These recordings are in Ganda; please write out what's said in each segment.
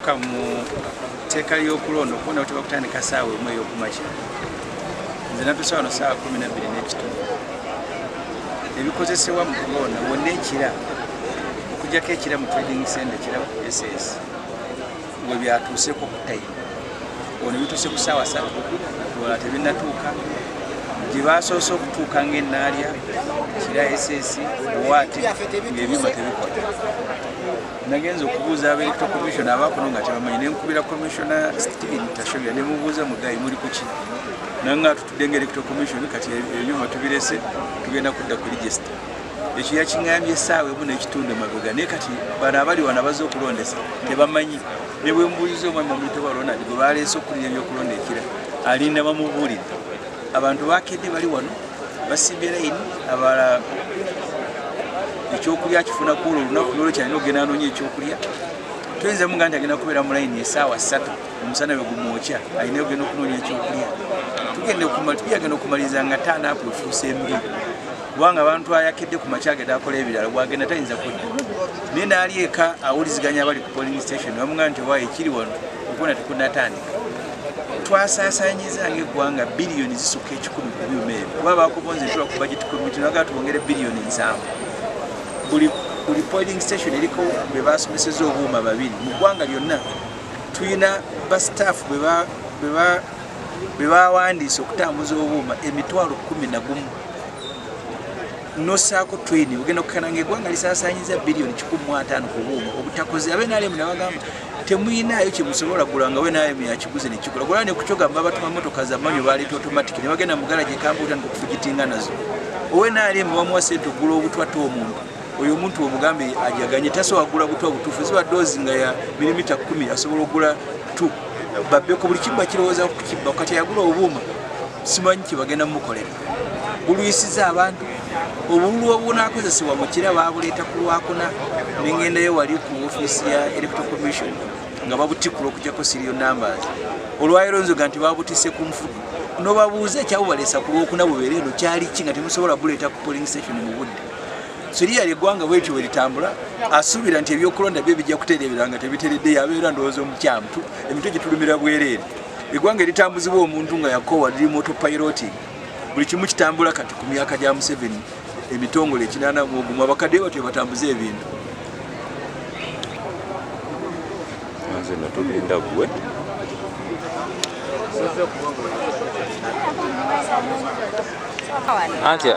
kamu teka lyokulonda okubona kuti bakutandika saawa emu eyokumakya nze natusa wano saawa kumi nabbiri n'ekitundu ebikozesebwa mu kulonda wonna ekira okujjako ekira mu trading center ekira ku ss we byatuuseko ku time ono bituuse ku saawa satu wala tebinatuuka gye basoose okutuuka ng'ennaalya kira ss waati ng'ebyuma tebikola nagenze okubuuza aba electoral commission abaakono nga tebamanyi nenkubira commissiona steven tashobya nemubuuza mugayi muli kuki nanga atutudde nga electoral commission kati ebyuma tubirese tugenda kudda ku register ekyo yakiŋambye esaawa emu nekitundu emabega naye kati bano abali wana baze okulondesa tebamanyi nebwembuuliza omwami omuyitebwa ronald gwe baleese okukulira ebyokulonda ekira alinda bamubuulidde abantu bakedde bali wano basimbye layini abala ekyokulya kifuna kuolwo olunaku lwolo kyalina okugenda anoonya ekyokulya toyinza muga nti agenda kubeera mu layini esaawa ssatu omusana bwe gumwokya alina ogenda okunoonya ekyokulya tugenda okumaliriza nga taanaapu efuusa embi kubanga abantu ayakedde ku makya agenda akola ebirala bwagenda tayinza kudda naye naali eka awuliziganya abali ku polling station bamuga nti owa ekiri wano okubona tekunatandika twasaasaanyiza ng'eggwanga biliyoni zisukka ekikumi ku byuma ebyo kuba bakubonza etuba ku bajeti komiti naga twongere biliyoni nsanvu buli buli poling station eriko bwe basomeseza obuuma babiri mu ggwanga lyonna tulina bastaafu bwe bawandiisa okutambuza obuuma emitwalo kumi na gumu nosaako twini ogenda okukana nga egwanga lisasanyiza biliyoni kikumi mu ataano ku buuma obutakoze abe nalemu nabagamba temuyinaayo kyemusobola gula nga we nalemu yakiguze nekigula gula nekukyogamba abatuma motoka zamanyo baleeta automatic ne bagenda mugala gyekambuuta nikufugitinga nazo owe nalemu wamuwa sente ogula obutwate omuntu oyo omuntu omugambe ajaganye tasobola kugula butwa butuufu ziba doozi nga ya milimita kumi asobola okugula t babbeko buli kimu bakirowooza kukibba kati ayagula obuuma simanyi kyebagenda mukolera bulwisiza abantu obululu obunakozesebwa mukira babuleeta ku lwakuna nengendayo wali ku ofiisi ya electoral commission nga babutikula okujako sirio numbers olwayiro nzoga nti babutise ku nfudu nobabuuza ekyabubalesa ku lwokuna bubeere eno kyali ki nga temusobola buleeta ku polling station mu budde siriya lyegwanga bwetyo weritambula asuubira nti ebyokulonda bye bijja kutereebera nga tebiteredde yabeera ndowooza omukyamutu emitwe gyetulumira bwereere egwanga eritambuzibwa omuntu nga yakowa liri moto piloting buli kimu kitambula kati ku myaka gya museveni emitongole ekinana muogumu abakadde batyo ebatambuza ebintu nze natulinda gwe antya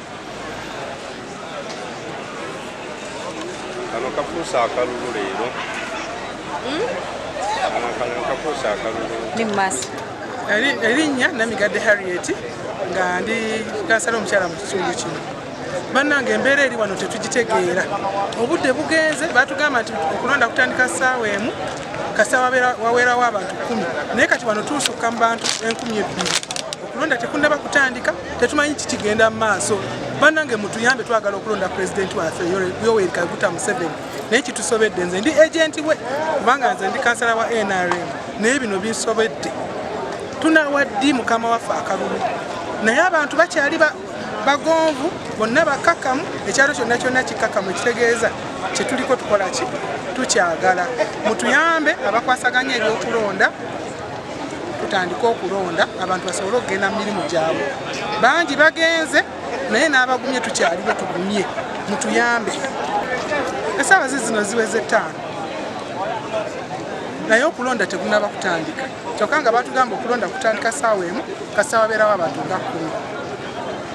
kano kafuuse akalulu leero hmm? kano kafuuse akalulu ni mumaaso erinnya namigadde harriet nga ndi kansala omukyala mu kitundu kino bannange embeera eri wano tetugitegeera obudde bugenze batugamba nti okulonda kutandika ssaawa emu kasita waweerawo abantu kumi naye kati wano tuusukka mu bantu enkumi ebbiri kulonda tekunnaba kutandika tetumanyi kikigenda mu maaso banange mutuyambe twagala okulonda pulezidenti waffe yoweri kaguta museveni naye kitusobedde nze ndi agenti we kubanga nze ndi kansala wa nrm naye bino binsobedde tunawa ddi mukama waffe akalulu naye abantu bakyali bagonvu bonna bakakamu ekyalo kyonna kyonna kikakamu ekitegeeza kyetuliko tukola ki tukyagala mutuyambe abakwasaganya ebyokulonda tutandike okulonda abantu basobole okugenda mu mirimu gyabwe bangi bagenze naye n'abagumye tukyali bwe tugumye mutuyambe esaawa zi zino ziweze ttaano naye okulonda tegunaba kutandika kyokka nga batugamba okulonda kutandika saawa emu kasaawa beerawo abantu nga kkumi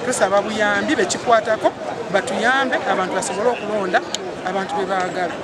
tusaba buyambi bekikwatako batuyambe abantu basobole okulonda abantu be baagala